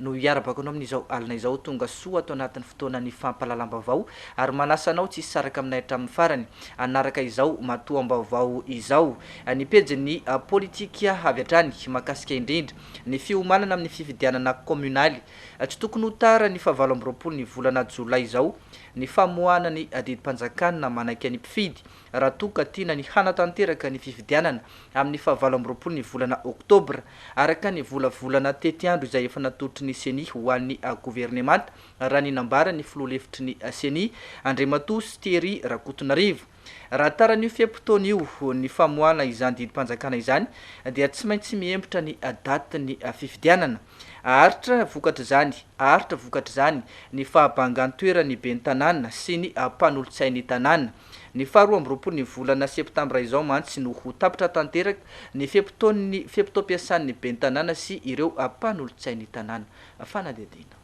no hiarabako anao amin'izao alina izao. Tonga soa ato anatin'ny fotoanan'ny fampahalalam-baovao ary manasa anao tsy hisaraka aminay hatramin'ny farany hanaraka izao matoam-baovao izao. Ny pejin'ny politika avy hatrany mahakasika indrindra ny fiomanana amin'ny fifidianana kaominaly. Tsy tokony ho tara ny fahavalo amby roapolo ny volana jolay izao ny famoahana ny didim-panjakana manaiky ny mpifidy. raha toa ka tiana ny hanatanteraka ny fifidianana amin'ny fahavalo amby roapolo ny volana oktobra, araka ny volavolana tetiandro izay efa natolotry ny Ceni ho an'ny governemanta, raha ny nambaran'ny filoha lefitry ny Ceni, Andriamatoa Thierry Rakotonarivo. Raha taran'io fe-potoana io ny famoahana izany didim-panjakana izany dia tsy maintsy mihembotra ny datin'ny fifidianana. Aharitra vokatr'izany aharitra vokatr'izany ny fahabangan-toeran'ny ben'ny tanàna sy ny mpanolotsain'ny tanàna. Ny faha roa amby roapolo ny volana septambra izao mantsy no ho tapitra tanteraka ny fe-potoan'ny fe-potoam-piasan'ny ben'ny tanàna sy ireo mpanolotsain'ny tanàna. Fanadihadiana.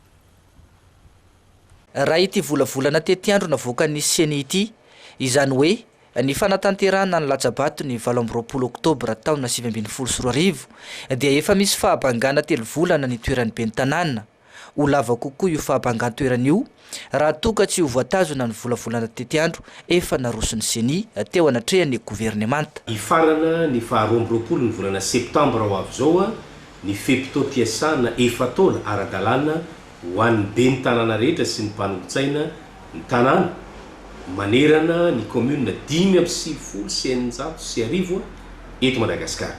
Raha ity volavolana tetiandro navoakan'ny Ceni ity, izany hoe ny fanatanterahana ny latsa-bato ny valo amby roapolo oktobra taona sivy ambin'ny folo sy roa arivo, dia efa misy fahabangana telo volana nitoeran'ny ben'ny tanàna, Ho lava kokoa io fahabangan-toerana io raha toa ka tsy ho voatazona ny volavolana tetiandro efa naroson'ny Ceni teo anatrehan'ny governemanta. Hifarana ny faha roa amby roapolo ny volana septambra ho avy izao ny fe-potoam-piasana efa-taona ara-dalàna ho an'ny ben'ny tanàna rehetra sy ny mpanompon-tsaina ny tanàna manerana ny kaominina dimy amby sivifolo sy eninjato sy arivo eto Madagasikara.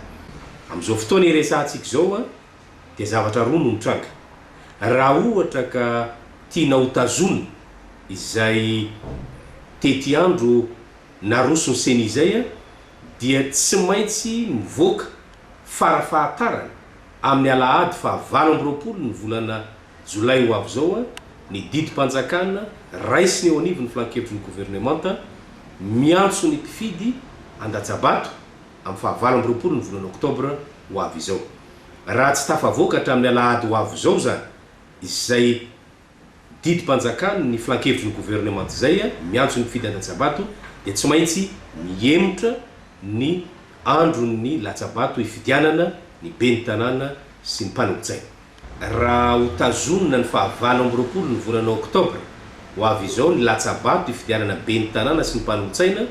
Amin'izao fotoana iresahantsika izao dia zavatra roa no mitranga. Raha ohatra ka tiana hotazonina izay tetiandro naroson'ny ceni izay dia tsy maintsy mivoaka fara fahatarana amin'ny alahady faha valo amby roapolo ny volana jolay ho avy izao ny didim-panjakana raisina eo anivon'ny filan-kevitry ny governemanta miantso ny mpifidy handatsa-bato amin'ny faha valo amby roapolo ny volana oktobra ho avy izao. Raha tsy tafavoaka hatramin'ny alahady ho avy izao izany izay didim-panjakana ny filankevitry ny governemanta izay miantso ny fifidianana tsabato dia tsy maintsy mihemotra ny andron'ny latsabato hifidianana ny ben'ny tanàna sy ny mpanolotsaina. Raha ho tazonina ny faha valo amby roapolo ny volana oktobra ho avy izao ny latsa-bato hifidianana ben'ny tanàna sy ny mpanolotsaina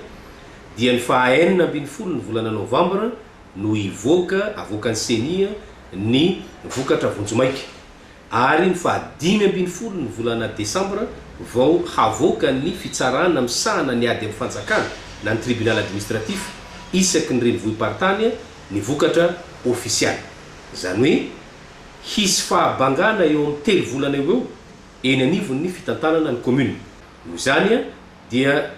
dia ny faha enina ambin'ny folo ny volana novambra no hivoaka avoakan'ny ceni ny vokatra vonjimaika ary ny faha dimy ambin'ny folo ny volana desambra vao havoaka ny fitsarana misahana ny ady amin'ny fanjakana na ny tribunal administratif isaky ny renivohi-paritany ny vokatra ofisialy. Izany hoe, hisy fahabangana eo amin'ny telo volana eo ho eo eny anivon'ny fitantanana ny kaominina. Noho izany dia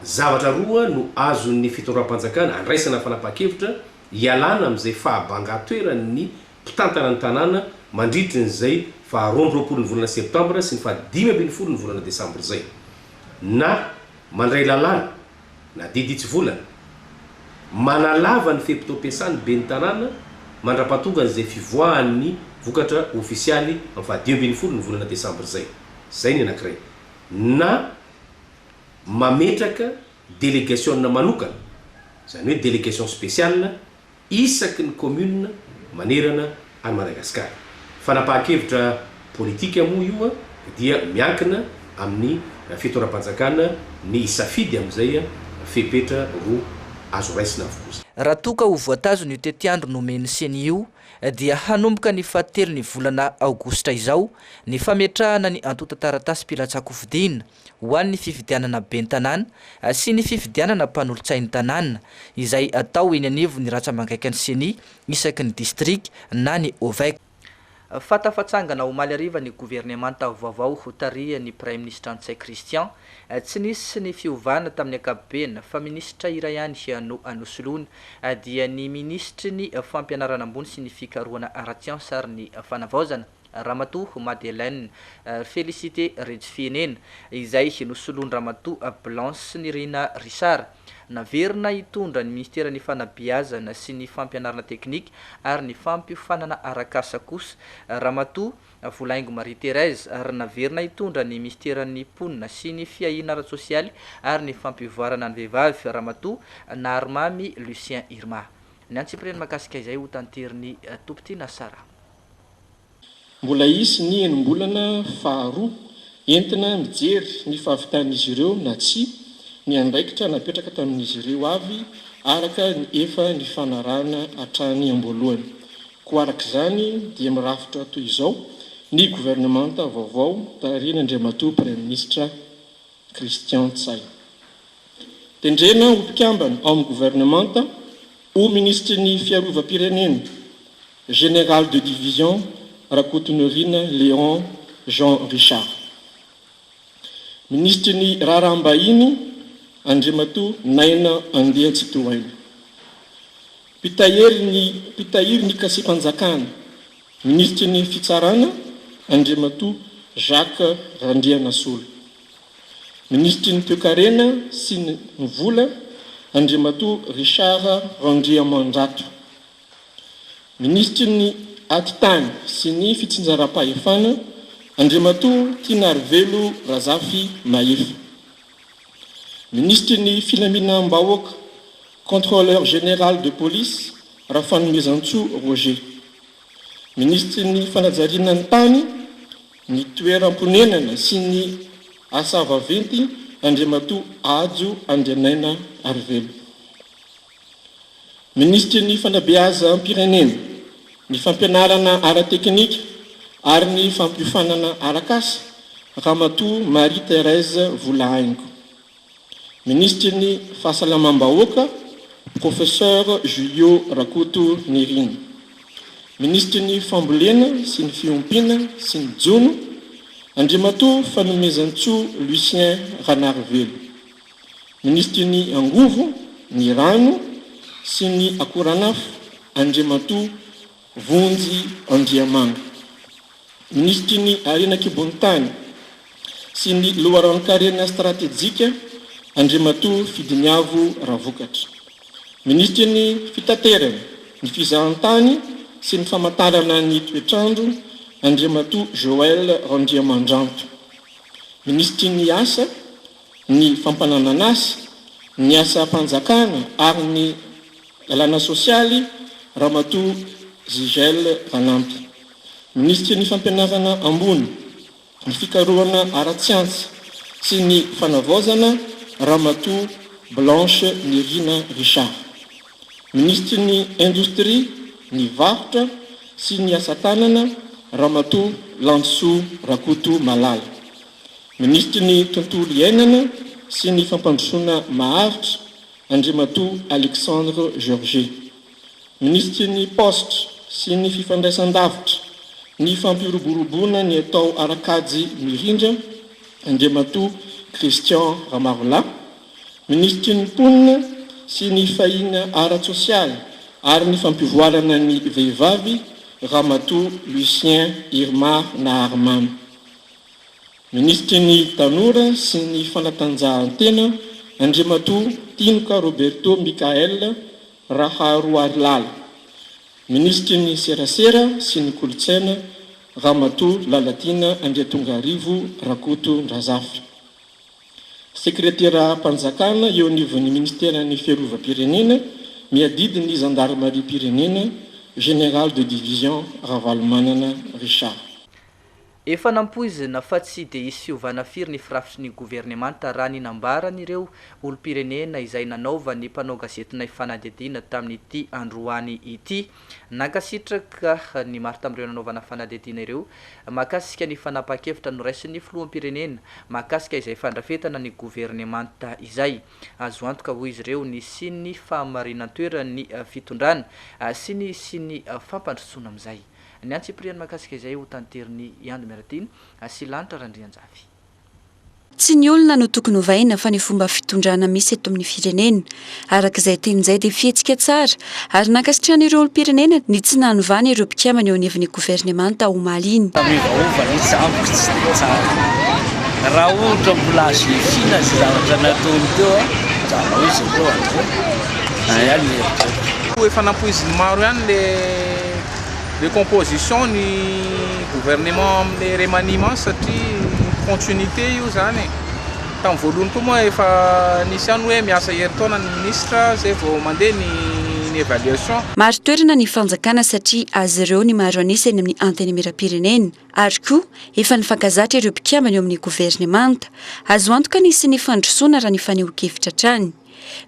zavatra roa no azon'ny fitondram-panjakana andraisana fanapahan-kevitra hialana amin'izay fahabangan-toeran'ny mpitantana ny tanàna mandritry ny izay faha roa amby roapolo ny volana septambra sy ny faha dimy ambin'ny folo ny volana desambra izay na mandray lalàna na didy tsy volana. Manalava ny fe-potoam-piasan'ny Ben'ny Tanàna mandra-pahatongan' izay fivoahan'ny vokatra ofisialy amin'ny faha dimy ambin'ny folo ny volana desambra izay. Izay ny anankiray. Na mametraka delegasiona manokana, izany hoe delegation spéciale, isaky ny commune manerana an'i Madagascar. Fanapahan-kevitra politika moa io dia miankina amin'ny fitoeram-panjakana ny hisafidy amin'izay fepetra ho azo raisina avokoa izany. Raha toa ka ho voatazona io tetiandro nomen'ny ceni io dia hanomboka ny fahatelon'ny volana aogositra izao ny fametrahana ny antontan-taratasim-pilatsahan-kofidina ho an'ny fifidianana ben'ny tanàna sy ny fifidianana mpanolotsain'ny tanàna, izay atao eny anivon'ny rantsamangaikan'ny Ceni isaky ny distrika na ny Ovec. Fanta fa tsangana omaly hariva ny governemanta vaovao hotarihan'ny Praiminisitra Ntsay Christian. Tsy nisy ny fiovana tamin'ny ankapobeny fa minisitra iray ihany no anosoloana, dia ny minisitry ny Fampianarana ambony sy ny Fikarohana ara-tsiansa ary ny Fanavaozana. Ramatoa Madeleine Félicité Rejofihenen, izay nosoloan-dRamatoa Blanche Nirina Richard. Naverina hitondra ny Minisiteran'ny Fanabeazana sy ny Fampianarana Teknika ary ny Fampiofanana Arak'asa kosa Ramatoa Volaingo Marie Thérèse ary naverina hitondra ny Minisiteran'ny Mponina sy ny Fiahiana Ara-tsosialy ary ny Fampivoarana ny Vehivavy Ramatoa Naharimamy Lucien Irma. Ny antsipiriany mahakasika izay hotanterin' ny Tompon-tiana Sarah. Mbola hisy ny enim-bolana faharoa entina mijery ny fahavitan'izy ireo na tsia ny andraikitra napetraka tamin'izy ireo avy araka ny efa nifanarahana hatrany am-boalohany. Koa araka izany dia mirafitra toy izao ny governemanta vaovao tarihin'Andriamatoa Praiminisitra Christian Ntsay. Tendrena ho mpikambana ao amin'ny governemanta, ho Minisitry ny Fiarovam-pirenena, Général de division Rakotonirina Léon Jean Richard. Minisitry ny Raharaham-bahiny Andriamatoa Naina Andeha Tsitohaina. Mpitahiry ny Mpitahiry ny Kasiam-panjakana, Minisitry ny Fitsarana Andriamatoa Jacques Randrianasolo. Minisitry ny Toekarena sy ny Vola Andriamatoa Richard Randriamandrato. Minisitry ny Atitany sy ny Fitsinjaram-pahefana, Andriamatoa Tinarivelo Razafimahefa. Minisitry ny Filaminam-bahoaka, Contrôleur général de police, Rafanomezantsoa Roger. Minisitry ny Fanajariana ny tany, ny toeram-ponenana sy ny Asa vaventy, Andriamatoa Hajo Andrianaina Arivelo. Minisitry ny Fanabeazam-pirenena, ny Fampianarana ara-teknika ary ny Fampiofanana arak'asa, Ramatoa Marie Thérèse Volahaingo. Minisitry ny Fahasalamam-bahoaka, Professeur Julio Rakoto Nirina. Minisitry ny Fambolena sy ny Fiompiana sy ny Jono, Andriamatoa Fanomezantsoa Lucien Ranarivelo. Minisitry ny Angovo, ny Rano sy ny Akoranafo, Andriamatoa Vonjy Andriamanga. Minisitry ny Harena an-kibon'ny tany sy ny loharanon-karena stratejika, Andriamatoa Fidiniavo Ravokatra. Minisitry ny Fitaterana, ny Fizahantany sy ny Famatarana ny Toetrandro, Andriamatoa Joël Randriamandranto. Minisitry ny Asa. ny fampananan'asa, ny asam-panjakana ary ny lalàna sosialy Ramatoa Zigel Ranampy. Minisitry ny Fampianarana ambony, ny fikarohana ara-tsiansa sy ny fanavaozana Ramatoa Blanche Nirina Richard. Minisitry ny Indostria, ny varotra sy ny asa tanana Ramatoa Landisoa Rakotomalala. Minisitry ny Tontolo iainana sy ny fampandrosoana maharitra, Andriamatoa Alexandre Georget. Minisitry ny Paositra sy ny Fifandraisandavitra, ny Fampiroboroboana ny atao ara-kajy mirindra, Andriamatoa Christian Ramarolahy. Minisitry ny Mponina sy ny Fahina ara-tsosialy ary ny Fampivoarana ny Vehivavy, Ramatoa Lucien Irmar Naharimamy. Minisitry ny Tanora sy ny fanatanjahantena Andriamatoa Tinoka Roberto Michael Raharoarilala, Minisitry ny Serasera sy ny Kolontsaina Ramatoa Lalatiana Andriatongarivo Rakotondrazafy, Sekreteram-panjakana eo anivon'ny Minisiteran'ny Fiarovam-pirenena miadidy ny Zandarimariam-pirenena, Général de Division Ravalomanana Richard. Efa nampoizina fa tsy dia hisy fiovana firy ny firafitry ny governemanta raha ny nambaran'ireo olom-pirenena izay nanaovan'ny mpanao gazetinay fanadihadiana tamin'ity androany ity. Nankasitraka ny maro tamin'ireo nanaovana fanadihadiana ireo mahakasika ny fanapahan-kevitra noraisin'ny filoham-pirenena mahakasika izay fandrafetana ny governemanta izay. Azo antoka hoy izy ireo ny hisian'ny fahamarinan-toeran'ny fitondrana sy ny hisian'ny fampandrosoana amin'izay Ny antsipiriany mahakasika izay ho tanterin'i Iandy Miaratiny sy Lanitra Randrianjafy. Tsy ny olona no tokony ovaina fa ny fomba fitondrana misy eto amin'ny firenena. Araka izay teny izay dia fihetsika tsara ary nankasitrahana ireo olom-pirenena ny tsy nanovana ireo mpikambana eo anivon'ny governemanta omaly iny. Miovaova ny jambiko tsy dia tsara raha ohatra mbola azo hiafiana izay zavatra nataony teo an, anjarao izy ireo an, izay ihany ny heritreritra. Efa nampoizin'ny maro ihany le. le composition ny gouvernement amle remaniement satria continuité io zany e tam voalohany koa moa efa nisy ihany hoe miasa herintaona ny ministre zay vao mandeha ny ny évaluation Marin-toerana ny fanjakana satria azy ireo ny maro an'isa eny amin'ny Antenimierampirenena. Ary koa, efa nifankazatra ireo mpikambana eo amin'ny governemanta. Azo antoka ny hisian'ny fandrosoana raha ny fanehoan-kevitra hatrany.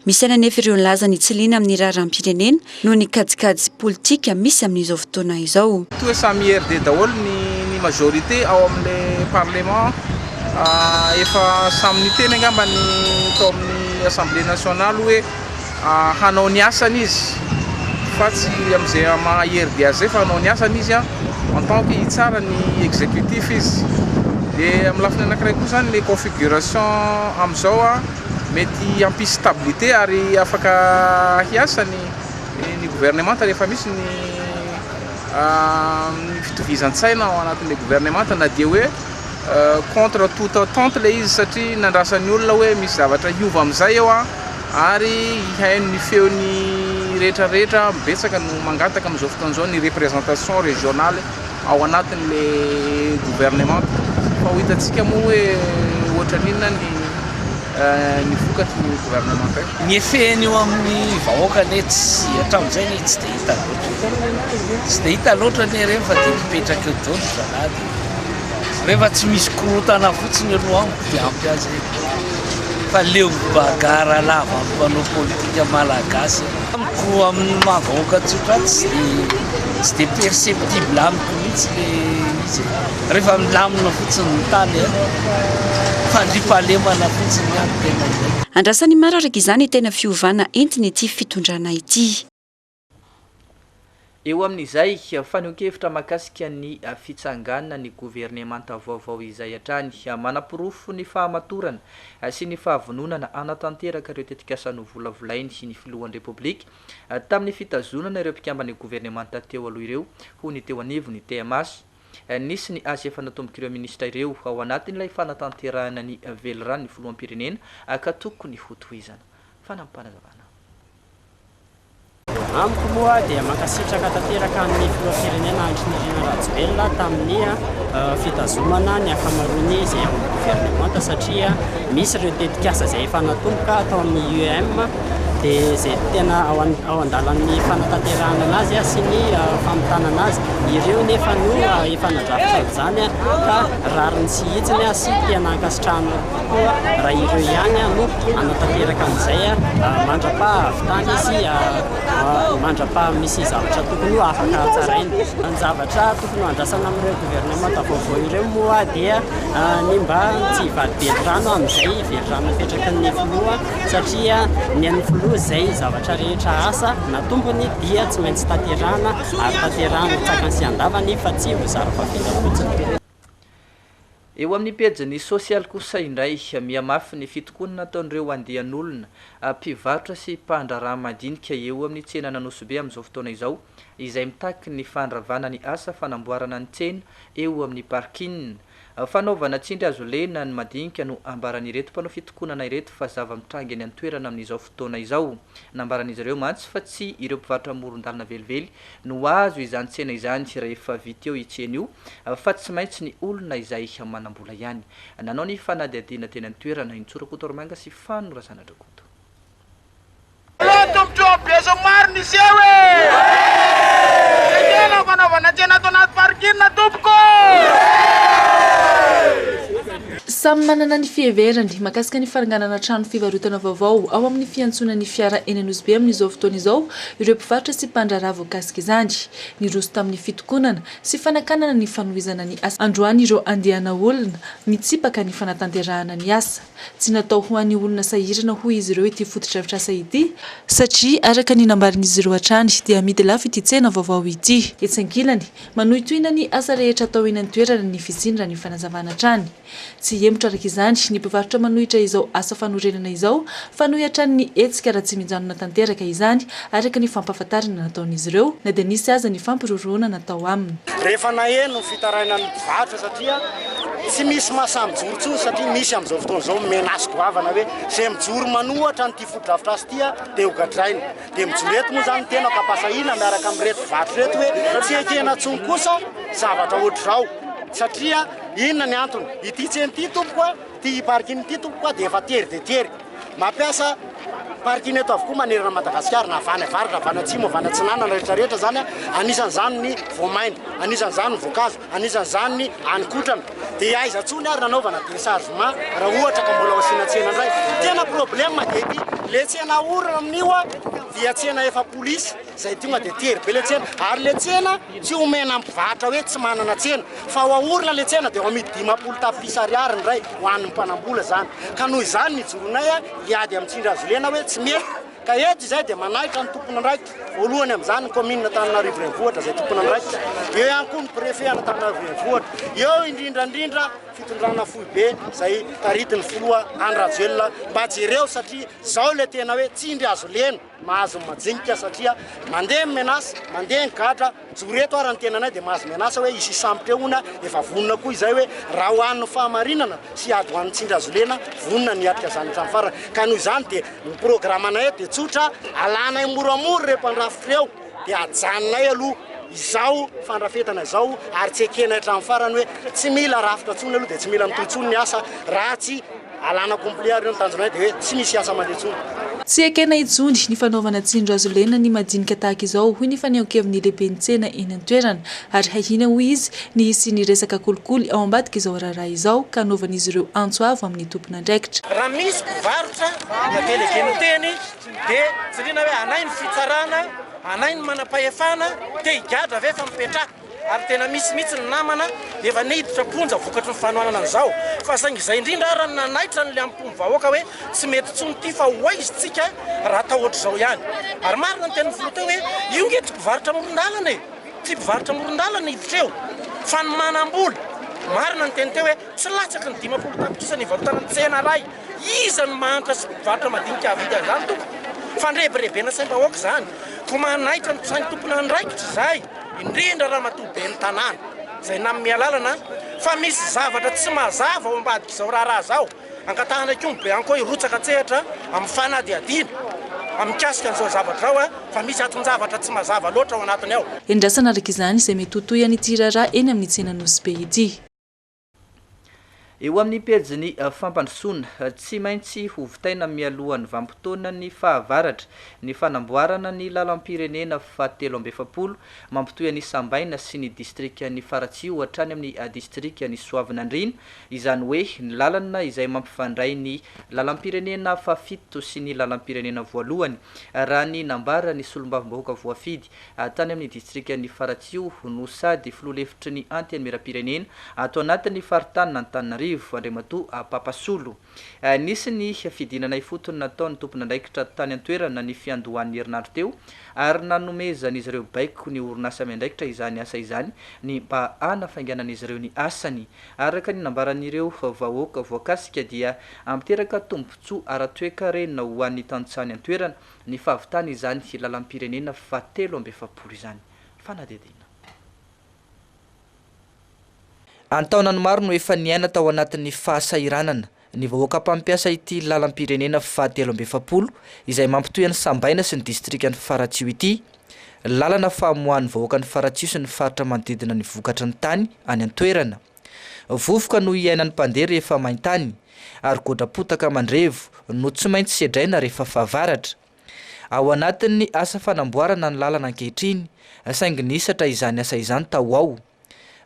Misaina anefa ireo nilaza ny tsy liana amin'ny raharaham-pirenena noho ny kajikajy politika misy amin'izao fotoana izao. Toa samy RD daholo ny ny majorité ao amin'le parlement ah efa samy niteny angamba ny tao amin'ny assemblée nationale hoe ah hanao ny asany izy fa tsy amin'izay maha RD azy zay fa hanao ny asany izy ah en tant que hitsara ny executif izy de amin'ny lafiny anakiray koa zany le configuration amin'izao ah Mety hampisy stabilité ary afaka hiasa ny ny gouvernemanta rehefa misy ny ny fitovizan-tsaina ao anatin'ilay gouvernemanta na dia hoe contre toute attente ilay izy satria nandrasan'ny olona hoe misy zavatra hiova amin'izay eo an, ary hihaino ny feon'ny rehetrarehetra, betsaka no mangataka amin'izao fotoana izao ny représentation régionale. ao anatin'ilay governemanta fa ho hitantsika moa hoe ohatran'ny inona ny ny vokatry ny governemanta io. Ny effet-ny eo amin'ny vahoaka anie tsy hatramin'izay anie tsy dia hita loatra. Tsy dia hita loatra anie ireny fa dia mipetraka eo daholo ry zalahy dia rehefa tsy misy korontana fotsiny aloha ao dia ampy azy e! Fa leo bagarre lava amin'ny mpanao politika malagasy. Amiko amin'ny maha vahoaka tsotra ahy tsy dia tsy dia perceptible amiko mihitsy le izy e. Rehefa milamina fotsiny ny tany a, fandriampahalemana fotsiny ihany no tena ilaina. Andrasan'i Maro araka izany tena fiovana entin'ity fitondrana ity. Eo amin'izay, fanehoan-kevitra mahakasika ny fitsanganan'ny governemanta vaovao izay hatrany manaporofo ny fahamatorana sy ny fahavononana hanatanteraka ireo tetikasa novolavolainy ny filohan'ny Repoblika tamin'ny fitazonana ireo mpikamban'ny governemanta teo aloha ireo ho ny teo anivon'ny TMH. Nisy ny asa efa natombok'ireo minisitra ireo ao anatin'ilay fanatanterahana ny veliranon'ny filoham-pirenena ka tokony hotohizana. Fanampin'Panazavana. Amiko moa dia mankasitraka tanteraka ny filoham-pirenena Andry Nirina Rajoelina tamin'ny fitazomana ny ankamaroany izay ao amin'ny governemanta satria misy ireo tetikasa izay efa natomboka tao amin'ny UEM dia izay tena ao ao an-dalan'ny fanatanterahana anazy sy ny famitana azy ireo nefa no efa nadrafitra izany ka rariny sy hitsiny sy tena ankasitrahana Koa raha ireo ihany no hanatanteraka an'izay mandra-paha avy tany sy mandra-paha misy zavatra tokony ho afaka hatsaraina. Ny zavatra tokony handrasana amin'ireo governemanta vaovao ireo moa dia ny mba tsy hivady velirano amin'izay velirano napetraky ny filoha satria ny an'ny filoha izay zavatra rehetra asa na tombony dia tsy maintsy tanterahana ary tanterahana tsakany sy andavany fa tsy ho zara-pavela fotsiny. Eo amin'ny pejiny sosialy kosa indray, mihamafy ny fitokonana nataon'ireo andian'olona, mpivarotra sy mpandraharaha madinika eo amin'ny tsenan'Anosibe amin'izao fotoana izao, izay mitaky ny fandravana ny asa fanamboarana ny tsena eo amin'ny parking. Fanaovana tsindry hazo lena ny madinika no ambaran'ireto mpanao fitokonana ireto fa zava-mitranga eny an-toerana amin'izao fotoana izao. Nambaran'izy ireo mantsy fa tsy ireo mpivarotra amoron-dalana velively no azo izany tsena izany rehefa vita io tsena io fa tsy maintsy ny olona izay manam-bola ihany. Nanao ny fanadihadiana teny an-toerana i Ntsoro Rakotorimanga sy Fano Razanadrakoto. Tena tombotsoa ambiazo maro niseho e! Ekena fanaovana tsena ato anaty parking tompoko e! Samy manana ny fiheverany mahakasika ny fananganana trano fivarotana vaovao ao amin'ny fiantsonan'ny fiara eny Anosibe amin'izao fotoana izao ireo mpivarotra sy mpandraharaha voakasika izany. Niroso tamin'ny fitokonana sy fanakanana ny fanohizana ny asa androany ireo andiana olona mitsipaka ny fanatanterahana ny asa. Tsy natao ho an'ny olona sahirana hoy izy ireo ity fotodrafitrasa ity, satria araka ny nambarin'izy ireo hatrany dia amidy lafo ity tsena vaovao ity. Etsy ankilany, manohitohina ny asa rehetra atao eny an-toerana ny fisiany raha ny fanazavana hatrany. Tsy hihemotra araka izany ny mpivarotra manohitra izao asa fanorenana izao fa noho hatrany ny hetsika raha tsy mijanona tanteraka izany, araka ny fampahafantarana nataon'izy ireo, na dia nisy aza ny fampirorohana natao aminy. Rehefa naheno ny fitarainan'ny mpivarotra satria tsy misy mahasahy mijoro intsony satria misy amin'izao fotoana izao menace goavana hoe izay mijoro manohatra an'ity fotodrafitrasa ity dia hogadraina. Dia mijoro eto moa izany ny tenako ampahasahiana miaraka amin'ireto mpivarotra ireto hoe tsy ekena intsony kosa zavatra ohatr'izao satria Inona ny antony? Ity tsena ity tompoko a, ity parking ity tompoko a dia efa tery dia tery. Mampiasa parking eto avokoa manerana an'i Madagasikara na avy any avaratra, avy any atsimo, avy any atsinanana, rehetra rehetra izany a. Anisan'izany ny voamaina, anisan'izany ny voankazo, anisan'izany ny haninkotrana. Dia aiza intsony ary nanaovana déchargement raha ohatra ka mbola ho asiana tsena indray? Tena problème dia ity. Ilay tsena ahorona amin'io a dia tsena efa polisy. Zay tonga dia tery be le tsena ary le tsena tsy homena mpivarotra hoe tsy manana tsena fa ho aorina le tsena dia ho amidy dimampolo tapitrisa ariary ny iray ho an'ny mpanambola izany ka noho izany nijoronay hiady amin'ny tsindry azo lena hoe tsy mety ka eto izay dia manahitra ny tompon'andraikitra voalohany amin'izany ny commune Antananarivo Renivohitra izay tompon'andraikitra eo ihany koa ny préfet an'Antananarivo Renivohitra eo indrindra indrindra fitondrana foibe izay taritin'ny filoha Andry Rajoelina mba jereo satria zao le tena hoe tsindry azo lena Mahazo ny majinika satria mandeha ny menace, mandeha ny gadra, mijoro eto ary ny tenanay dia mahazo menace hoe hisy hisambotra eo hono, efa vonona koa izay hoe raha ho an'ny fahamarinana sy hiady ho an'ny tsindry azo lena, vonona ny hiatrika izany hatramin'ny farany. Ka noho izany dia ny programanay eto dia tsotra, alanay moramora ireo mpandrafitra ireo. Dia ajanonay aloha izao fandrafetana izao ary tsy ekenay hatramin'ny farany hoe tsy mila rafitra intsony aloha dia tsy mila mitohy intsony ny asa raha tsy alana complet ary ireo ny tanjonay dia hoe tsy misy asa mandeha intsony. Tsy ekena intsony ny fanaovana tsindrohazo lena ny madinika tahaka izao hoy ny fanehoankevin'ny lehiben'ny tsena eny an-toerana ary hahiana hoy izy ny hisian'ny resaka kolikoly ao ambadik'izao raharaha izao ka hanaovan'izy ireo antso avo amin'ny tompon'andraikitra Raha misy mpivarotra na delegen'ny teny Dia tsy liana hoe anay ny fitsarana, anay ny manam-pahefana, te higadra ve fa mipetraha. Ary tena misy mihitsy ny namana efa niditra am-ponja vokatry ny fanohanana an'izao. Fa saingy izay indrindra ara no nanaitra ny liam-pon'ny vahoaka hoe tsy mety intsony ity fa ho aiza isika raha atao ohatr'izao ihany. Ary marina ny tenin'ny filoha teo hoe io nge tsy mpivarotra amoron-dalana e! Tsy mpivarotra amoron-dalana hiditra eo fa ny manam-bola. Marina ny teny teo hoe tsy latsaky ny dimampolo tapitrisa ny hivarotana ny tsena iray. Iza no mahantra sy mpivarotra madinika hahavidy an'izany tompoko? Fandrebirebena saim-bahoaka izany. Koa manaitra ny sain'ny tompon'andraikitra izahay, indrindra Ramatoa Ben'ny Tanàna, izay nanome alalana fa misy zavatra tsy mazava ao ambadik'izao raharaha izao. Angatahana koa ny Beanco hirotsaka an-tsehatra amin'ny fanadihadiana mikasika an'izao zavatra izao fa misy aton-javatra tsy mazava loatra ao anatiny ao. Endrasana araka izany izay mety ho tohin'ity raharaha eny amin'ny tsena Nosy Be ity. Eo amin'ny pejin'ny fampandrosoana, tsy maintsy hovitaina mialohan'ny vanim-potoanan'ny fahavaratra ny fanamboarana ny lalam-pirenena fahatelo amby efapolo mampitohy an'i Sambaina sy ny distrikan'i Faratsiho hatrany amin'ny distrikan'i Soavinandriana, izany hoe ny lalana izay mampifandray ny lalam-pirenena fahafito sy ny lalam-pirenena voalohany, raha ny nambaran'ny solombavambahoaka voafidy. tany amin'ny distrikan'i Faratsiho, no sady filoha lefitry ny Antenimierampirenena ato anatin'ny faritanin'Antananarivo, Andriamatoa Papa Solo. Nisy ny fidinana ifotony nataon'ny tompon'andraikitra tany an-toerana ny fiandohan'ny herinandro teo ary nanomezan'izy ireo baiko ny orinasa miandraikitra izany asa izany ny mba hanafainganan'izy ireo ny asany. Araka ny nambaran'ireo vahoaka voakasika dia miteraka tombontsoa ara-toekarena ho an'ny tantsaha ny an-toerana ny fahavitana izany lalam-pirenena fahatelo amby efapolo izany fanadihadiana. An-taonany maro no efa niaina tao anatin'ny fahasahiranana ny vahoaka mpampiasa ity lalam-pirenena fahatelo amby efapolo izay mampitohy an'i Sambaina sy ny distrikan'i Faratsiho ity lalana famoahan'ny vahoakan'i Faratsiho sy ny faritra manodidina ny vokatry ny tany any an-toerana. Vovoka no iainan'ny mpandeha rehefa main-tany, ary godram-potaka mandrevo no tsy maintsy sedraina rehefa fahavaratra. Ao anatin'ny asa fanamboarana ny lalana ankehitriny, saingy nihisatra izany asa izany tao ho ao.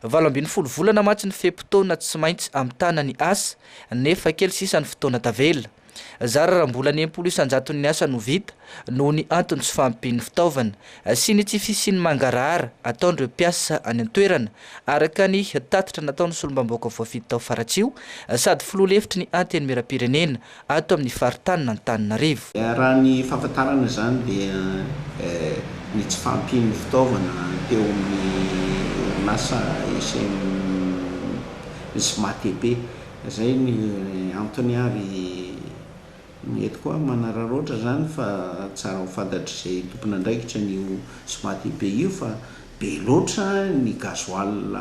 Valo ambin'ny folo volana mantsy ny fe-potoana tsy maintsy hamitana ny asa, nefa kely sisa ny fotoana tavela. Zara raha mbola ny enimpolo isan-jaton'ny asa no vita noho ny antony tsy fahampian'ny fitaovana sy ny tsy fisian'ny mangarahara ataon'ireo mpiasa any an-toerana, araka ny tatitra nataon'ny solombambaoka voafidy tao Faratsiho sady filoha lefitry ny Antenimierampirenena ato amin'ny faritanin'Antananarivo. Raha ny fahafantarana izany dia ny tsy fahampian'ny fitaovana teo amin'ny orinasa Isem Smatp Zay ny antony ary ny eto koa manararaotra zany fa tsara ho fantatr'izay tompon'andraikitra an'io Smatib io fa be loatra ny gasoil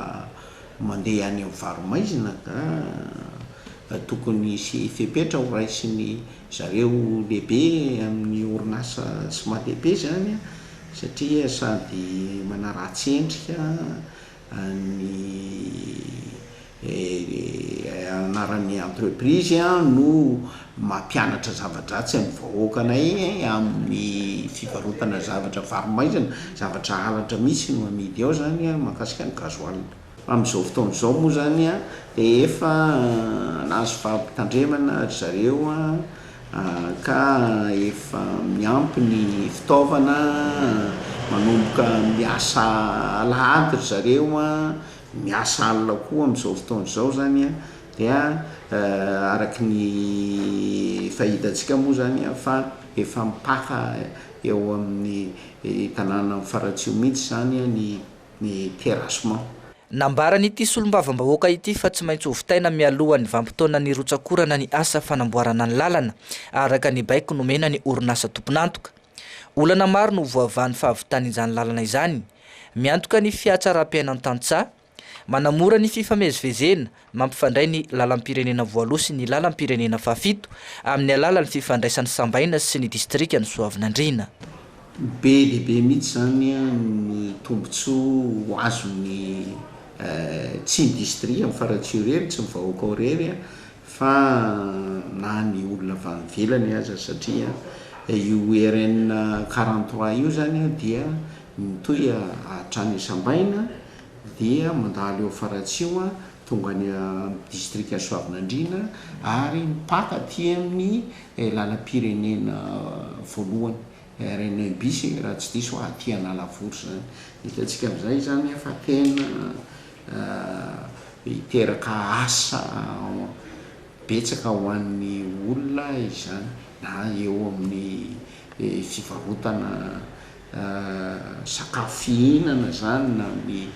mandeha any amin'ny varo-maizina ka tokony hisy fepetra ho raisin'ny zareo lehibe amin'ny orinasa Smateb zany satria sady manaratsy endrika ny anaran'ny entreprise no mampianatra zava-dratsy an'ny vahoakanay amin'ny fivarotana zavatra varo-maizina, zavatra halatra mihitsy no amidy ao izany mahakasika ny gasoil. Amin'izao fotoana izao moa izany dia efa nahazo fampitandremana ry zareo. ka efa miampy ny fitaovana, manomboka miasa alahady ry zareo an, miasa alina koa amin'izao fotoana izao izany an, dia araka ny efa hitantsika moa izany an fa efa mipaka eo amin'ny tanàna amin'ny faratsiho mihintsy izany an ny ny terrassement. Nambaran'ity solombavambahoaka ity fa tsy maintsy hovitaina mialohan'ny vanim-potoanan'ny rotsak'orana ny asa fanamboarana ny lalana, araka ny baiko nomena ny orinasa tompon'antoka. Olana maro no voavahan'ny fahavitan'izany lalana izany. Miantoka ny fihatsaram-piainan-tantsaha. Manamora ny fifamezivezena, mampifandray ny lalam-pirenena voaloha sy ny lalam-pirenena fahafito amin'ny alalan'ny fifandraisan'ny sambaina sy ny distrikan'i Soavinandriana. Be dia be mihitsy izany ny tombontsoa ho azon'ny tsy ny distria amin'ny farantsio irery, tsy ny vahoaka ao irery fa na ny olona avy any ivelany aza satria io ERN quarante trois io izany dia mitohy hatrany Sambaina. dia mandalo eo Faratsiho eo an, tonga any amin'ny distrika Soavinandriana ary mipaka aty amin'ny lalam-pirenena voalohany, RN un bis e, raha tsy diso aho, aty Analavory izany. Hitantsika amin'izay izany fa tena hiteraka asa betsaka ho an'ny olona izany, na eo amin'ny fivarotana sakafo fihinana izany na ny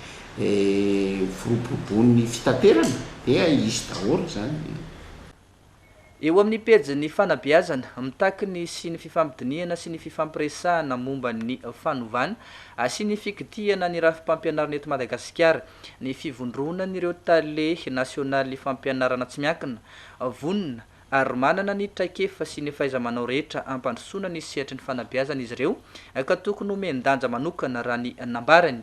foroborobon'ny fitaterana dia hisy daholo izany. Eo amin'ny pejin'ny fanabeazana, mitaky ny sy ny fifampidinihana sy ny fifampiresahana momba ny fanovana sy ny fikitihana ny rafi-pampianarana eto Madagasikara ny fivondronan'ireo tale nasionaly fampianarana tsy miankina, vonona ary manana ny traikefa sy ny fahaiza-manao rehetra hampandrosoana ny sehatry ny fanabeazana izy ireo ka tokony homen-danja manokana raha ny nambarany.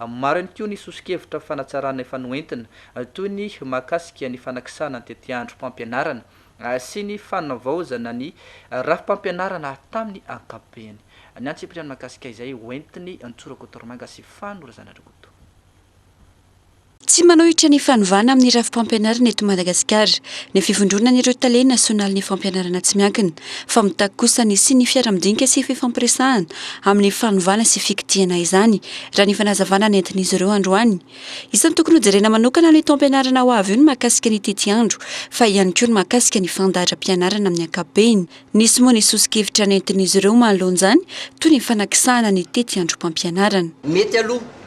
Maro ihany koa ny soso-kevitra fanatsarana efa noentina, toy ny mahakasika ny fanakisana ny tetiandrom-pampianarana sy ny fanavaozana ny rafi-pampianarana tamin'ny ankapobeny. Ny antsipiriany mahakasika izay hoentiny Ntsora Kotoromanga sy Fano Razanariakoto. Tsy manohitra ny fanovana amin'ny rafi-pampianarana eto Madagasikara ny fivondronan'ireo tale nasionalin'ny fampianarana tsy miankina, fa mitaky kosa ny hisian'ny fiara-midinika sy fifampiresahana amin'ny fanovana sy fikitihana izany, raha ny fanazavana nentin'izy ireo androany. Isan'ny tokony hojerena manokana ny taom-pianarana ho avy io ny mahakasika ny tetiandro, fa ihany koa ny mahakasika ny fandaharam-pianarana amin'ny ankapobeny. Nisy moa ny soso-kevitra nentin'izy ireo manoloan'izany, toy ny fanakisahana ny tetiandrom-pampianarana. Mety aloha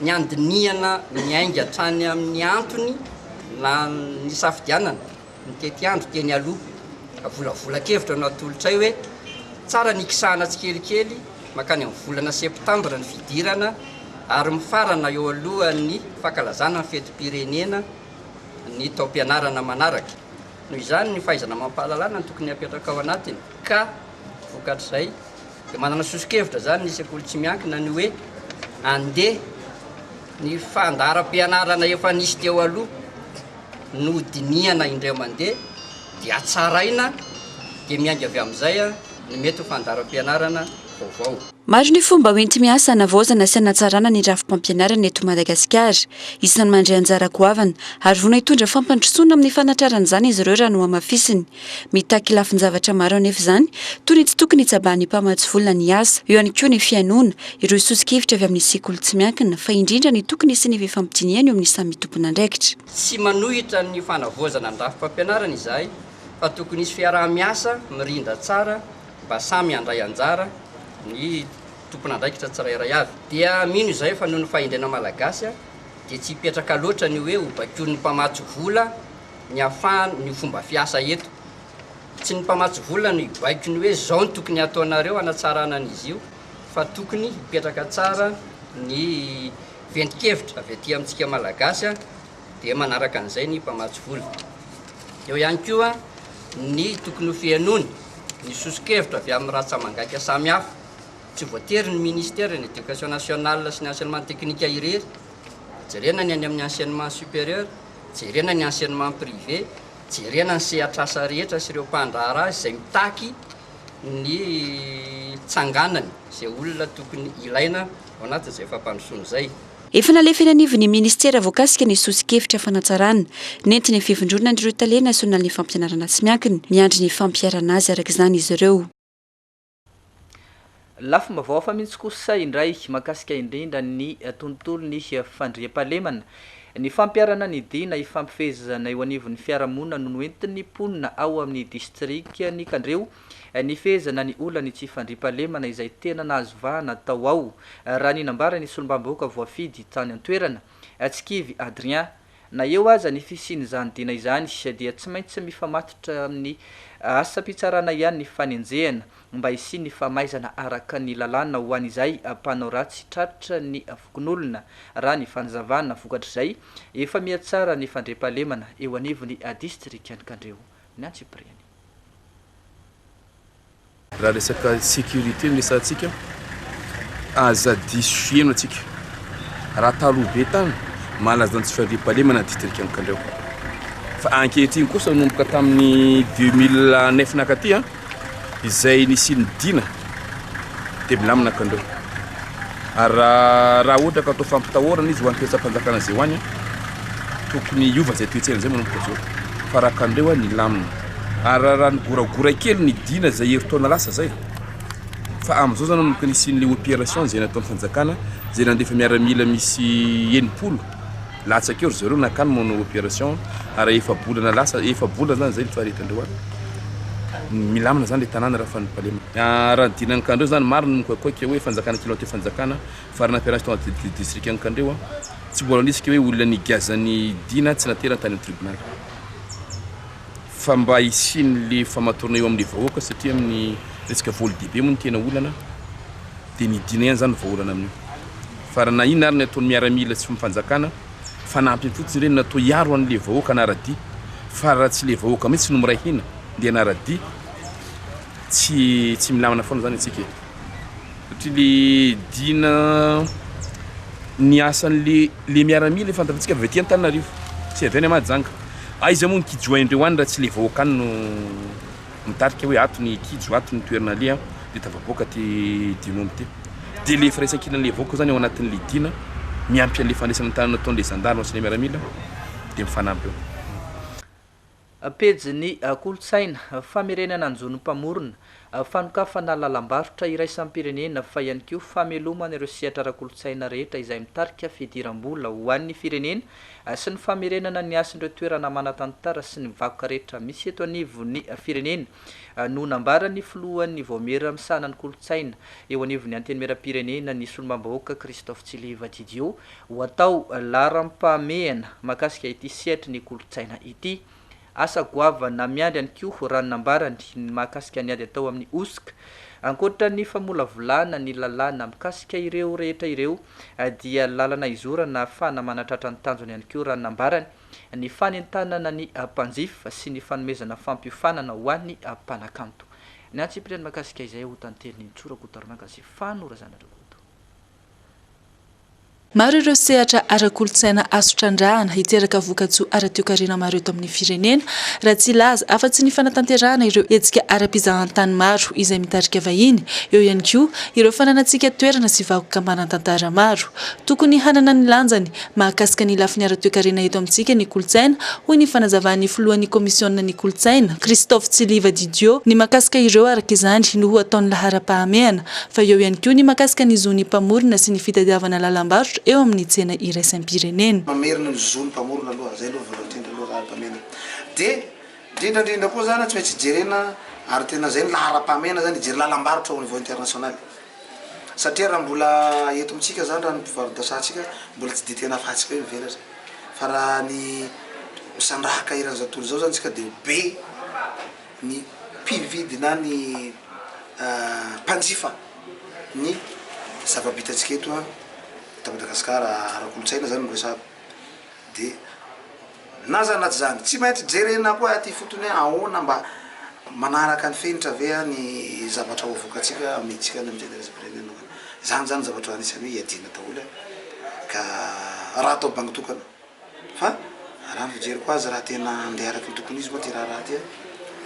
Ny handinihana miainga hatrany amin'ny antony nisafidianana ny tetiandro teny aloha. Avolavolan-kevitra no atolotray hoe tsara ny ikisahana tsikelikely mankany amin'ny volana septambra ny fidirana ary mifarana eo alohan'ny fankalazana ny fetim-pirenena ny taom-pianarana manaraka. Noho izany, ny fahaizana amam-pahalalana no tokony hapetraka ao anatiny ka vokatr'izay Dia manana soso-kevitra izany ny sekoly tsy miankina ny hoe andeha ny fandaharam-pianarana efa nisy teo aloha no dinihana indray mandeha dia hatsaraina dia miainga avy amin'izay ny mety ho fandaharam-pianarana vaovao. Maro ny fomba hoenti-miasa hanavaozana sy hanatsarana ny rafi-pampianarana eto Madagasikara. Isan'ny mandray anjara goavana ary vonona hitondra fampandrosoana amin'ny fanatrarana izany izy ireo raha nohamafisiny Mitaky lafin-javatra maro anefa izany, toy ny tsy tokony hitsabahan'ny mpamatsy vola ny asa, eo ihany koa ny fihainoana ireo soso-kevitra avy amin'ny sekoly tsy miankina, fa indrindra ny tokony hisian'ny fifampidinihana eo amin'ny samy tompon'andraikitra. Tsy manohitra ny fanavaozana ny rafi-pampianarana izahay, fa tokony hisy fiaraha-miasa mirindra tsara mba samy handray anjara ny tompon'andraikitra tsirairay avy. Dia mino izahay fa noho ny fahendrena malagasy dia tsy hipetraka loatra ny hoe ho baikoin'ny mpamatsy vola ny afahan ny fomba fiasa eto. Tsy ny mpamatsy vola no hibaiko ny hoe zao no tokony hataonareo hanatsarana an izy io fa tokony hipetraka tsara ny ventin-kevitra avy aty amintsika malagasy dia manaraka an'izay ny mpamatsy vola. Eo ihany koa ny tokony ho fihenoana ny soso-kevitra avy amin'ny ratsa-mangaika samihafa. Tsy voatery ny ministera ny education nationale sy ny enseignement technique irery Jerena ny any amin'ny enseignement supérieur, jerena ny enseignement privé, jerena ny sehatr'asa rehetra sy ireo mpandraharaha izay mitaky ny tsanganany izay olona tokony ilaina ao anatin'izay fampandrosoana izay. Efa nalefa eny anivon'ny Ministera voakasika ny soso-kevitra fanatsarana nentin'ny Fivondronana ireo Tale nasionalin'ny fampianarana tsy miankina miandry ny fampiharana azy araka izany izy ireo. Lafim-baovao hafa mihitsy kosa indray mahakasika indrindra ny tontolon'ny fandriampahalemana. Ny fampiharana ny dina ifampifehezana eo anivon'ny fiarahamonina no noentin'ny mponina ao amin'ny distrikan'i Kandreho nifehezana ny olan'ny tsy fandriampahalemana izay tena nahazo vahana tao ao, raha ny nambaran'ny solombavambahoaka voafidy tany an-toerana, Tsikivy Adrien. Na eo aza ny fisian'izany dina izany dia tsy maintsy mifamatotra amin'ny asam-pitsarana ihany ny fanenjehana mba hisian'ny famaizana araka ny lalàna ho an'izay mpanao ratsy tratra ny fokonolona, raha ny fanazavana vokatr'izay efa mihatsara ny fandriampahalemana eo anivon'ny distrikan'i Kandreho ny antsipiriany. Raha resaka sécurité no resahantsika, aza diso fiheno antsika. Raha taloha be tany, malaza ny tsy fandriampahalemana ny distrika Ankandriao. Fa ankehitriny kosa nomboka tamin'ny 2009 nakaty an, izay nisian'ny dina dia milamina Ankandriao. Ary raha raha ohatra ka atao fampitahorana izy ho an'ny toe-tsampanjakana izay ho any, tokony hiova izay toe-tsaina izay manomboka izao. Fa raha Ankandriao an, milamina. Ary raha nigoragora kely ny Dina izay herintaona lasa izay fa amin'izao izany manomboka nisian'ilay opération izay nataon'ny fanjakana izay nandefa miaramila misy enimpolo latsaka eo ry zareo nankany manao opération ary efa-bolana lasa efa-bolana izany izay ny faharetan'ireo any milamina izany ilay tanàna raha fanipalema. Ah, raha ny Dina Ankandreo izany maro no mikoakoaka hoe fanjakana kely mampiteo fanjakana fa raha nampiarahina tao anaty distrika Ankandreo tsy mbola nisy ilay hoe olona nigiazan'ny Dina tsy naterany tany amin'ny tribonaly. fa mba hisian'le famatorana eo amin'le vahoaka satria amin'ny resaka voly dehibe moa ny tena olana dia midina ihany zany vaholana amin'io fa raha na inona ary ny ataon'ny miaramila sy ny fanjakana fanampiny fotsiny ireny natao hiaro an'le vahoaka anaradia fa raha tsy le vahoaka mihitsy no miray hina dia anaradia tsy tsy milamina foana zany antsika e Satria le Dina ny asan le le miaramila efa fantatsika avy aty Antananarivo tsy avy any Mahajanga. Aiza moa ny kijo haindreo any raha tsy le vahoaka any no mitarika hoe ato ny kijo ato ny toerana aleha de tavaboaka aty Dina omby ty. De le firaisankina le vahoaka zany ao anatin le Dina miampy anle fandraisana tanana ataon le zandary sy le miaramila de mifanampy eo. Pejin'ny kolontsaina, famerenana ny zon'ny mpamorona, fanokafana lalam-barotra iraisam-pirenena fa ihany koa famelomana ireo sehatra ara-kolontsaina rehetra izay mitarika fidiram-bola ho an'ny firenena sy ny famerenana ny hasin'ireo toerana manan-tantara sy ny vakoka rehetra misy eto anivon'ny firenena no nambaran'ny filohan'ny Vaomiera misahana ny kolontsaina eo anivon'ny Antenimierampirenena ny Solombavambahoaka Christophe Tsiliva Didio Ho atao laharam-pahamehana mahakasika ity sehatry ny kolontsaina ity. Asa goavana miandry ihany koa raha ny nambarany ny mahakasika ny ady atao amin'ny hosoka. Ankoatra ny famolavolana ny lalàna mikasika ireo rehetra ireo dia lalana izorana ahafahana manatratra ny tanjony ihany koa raha ny nambarany ny fanentanana ny mpanjifa sy ny fanomezana fampiofanana ho an'ny mpanakanto. Ny antsipiriany mahakasika izay ho tanteriny Ntsoa Rakotoarimangazy Fano Razanarakoto. Maro ireo sehatra ara-kolontsaina azo trandrahana hiteraka vokatsoa ara-toekarena maro eto amin'ny firenena, raha tsy hilaza afa-tsy ny fanatanterahana ireo hetsika ara-pizahantany maro izay mitarika vahiny, eo ihany koa ireo fananantsika toerana sy vakoka manan-tantara maro. Tokony hanana ny lanjany Mahakasika ny lafiny ara-toekarena eto amintsika ny kolontsaina, hoy ny fanazavan'ny filohan'ny kaomisionina ny kolontsaina, Christophe Tsiliva Didio, ny mahakasika ireo araka izany no ho ataon'ny laharam-pahamehana, fa eo ihany koa ny mahakasika ny zon'ny mpamorona sy ny fitadiavana lalam-barotra eo amin'ny tsena iraisam-pirenena. Mamerina ny zon'ny mpamorona aloha, izay aloha voalohany indrindra aloha laharam-pahamehana. Dia indrindra indrindra koa izany tsy maintsy jerena ary tena izay ny laharam-pahamehana izany, hijery lalam-barotra au niveau international. Satria raha mbola eto amintsika zany raha ny mpivarodasantsika mbola tsy de tena afahantsika hoe mivelatra fa raha ny misandrahaka eran'ny zao tontolo zao zany tsika de be ny mpividy na ny mpanjifa ny zava-bitantsika eto a eto Madagasikara ara-kolontsaina zany no resahako de Na zany na tsy zany, tsy maintsy jerena koa aty ifotony hoe ahoana mba manaraka ny fenitra ve ny zavatra ho avoakantsika amin'ny hetsika any amin'ny Tenerizam-pirenena. Izany zany zavatra anisan'ny hoe iadiana daholo ka raha atao bango tokana. Fa raha ny fijeriko azy raha tena handeha araka ny tokony izy moa ity raharaha ity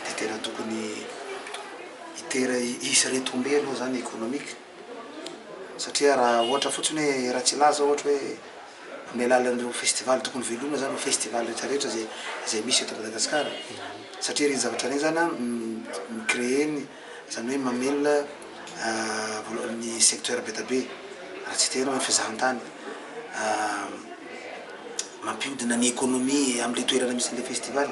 dia tena tokony hiter- hisy retombées aloha zany économiques. Satria raha ohatra fotsiny hoe Ratsilahy zao ohatra hoe omena alalan'ireo festival tokony velomina zany festival rehetra rehetra zay zay misy eto Madagascar satria ireny zavatra ireny zany mi créer ny zany hoe mamelona ny secteur be da be raha tsy te hanao fizahantany mampiodina ny economie amle toerana misy anle festival.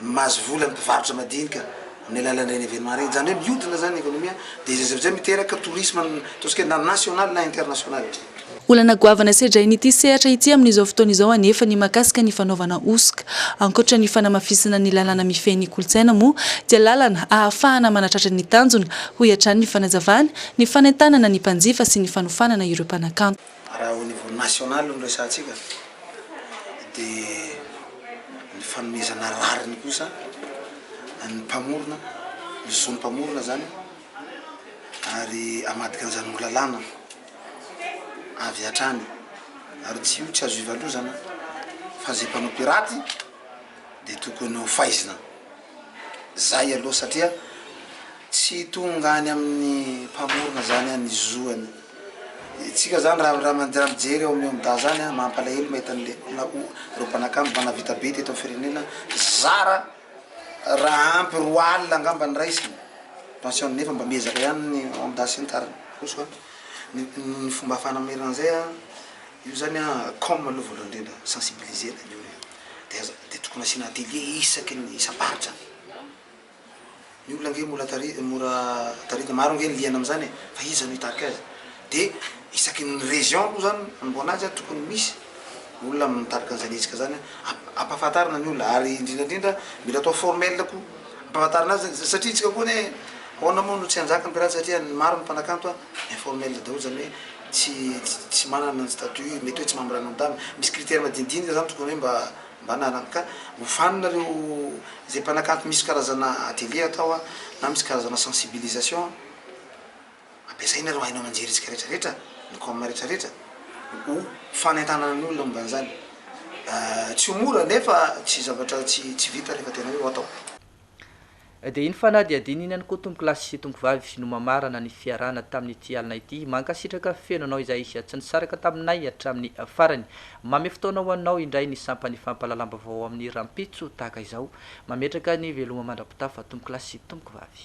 mahazo vola ny mpivarotra madinika amin'ny alalan'ireny événement ireny, izany hoe mihodina izany ny économie, dia izay avy izay miteraka tourisme ataontsika hoe na national na international. Olana goavana sedrain'ity sehatra ity amin'izao fotoana izao anefa ny mahakasika ny fanaovana hosoka. Ankoatra ny fanamafisana ny lalàna mifehy ny kolontsaina moa dia lalana ahafahana manatratra ny tanjona, hoy hatrany ny fanazavany, ny fanentanana ny mpanjifa sy ny fanofanana ireo mpanakanto. Raha au niveau national no resahantsika dia ny fanomezana rariny kosa ny mpamorona, ny zon'ny mpamorona izany ary hamadika an'izany ho lalàna avy hatrany ary tsy io tsy azo ivalozana fa izay mpanao piraty dia tokony ho faizina. Zay aloha satria tsy tonga any amin'ny mpamorona zany an ny zo an tsika zany raha raha manjary mijery eo amin'ny omda zany an mampalahelo mahita an'le na o reo mpanakanto mba nahavita be teto amin'ny firenena zara raha ampy roa alina angamba ny raisiny pension nefa mba miezaka ihany ny omda sy ny tariny koa soa ny ny fomba ahafahana mamerina an'izay an io zany an com aloha voalohany indrindra sensibiliser-na ny olona dia aza dia tokony asiana atelier isaky ny isam-paritra ny olona ange mbola tari mora taritina maro ange ny liana amin'izany e fa iza no hitarika azy dia isaky ny région aloha zany manomboana azy a tokony misy olona mitarika an'izany hetsika zany a ampahafantarina ny olona ary indrindra indrindra mila atao formel koa ampahafantarina azy zany satria isika koa anie ahoana moa no tsy hanjaka ny pirate satria ny maro ny mpanakanto a informel daholo zany hoe tsy tsy manana ny statut, mety hoe tsy mamiranontany, misy critère madinidinika izany tokony hoe mba mba anarany ka hofanina ireo izay mpanakanto misy karazana atelier atao a na misy karazana sensibilisation ampiasaina ireo haino aman-jerentsika rehetra rehetra ny com rehetra rehetra ho fanentanana ny olona momba an'izany tsy ho mora nefa tsy zavatra tsy tsy vita rehefa tena hoe ho atao. Dia iny fanadihadiana iny ihany koa tompokolahy sy tompovavy no mamarana ny fiarahana tamin'ity alina ity. Mankasitraka feno anao izay tsy nisaraka taminay hatramin'ny farany. Mamy fotoana ho anao indray ny sampan'ny fampahalalam-baovao amin'ny rahampitso tahaka izao. Mametraka ny veloma mandra-pitafa tompokolahy sy tompokovavy.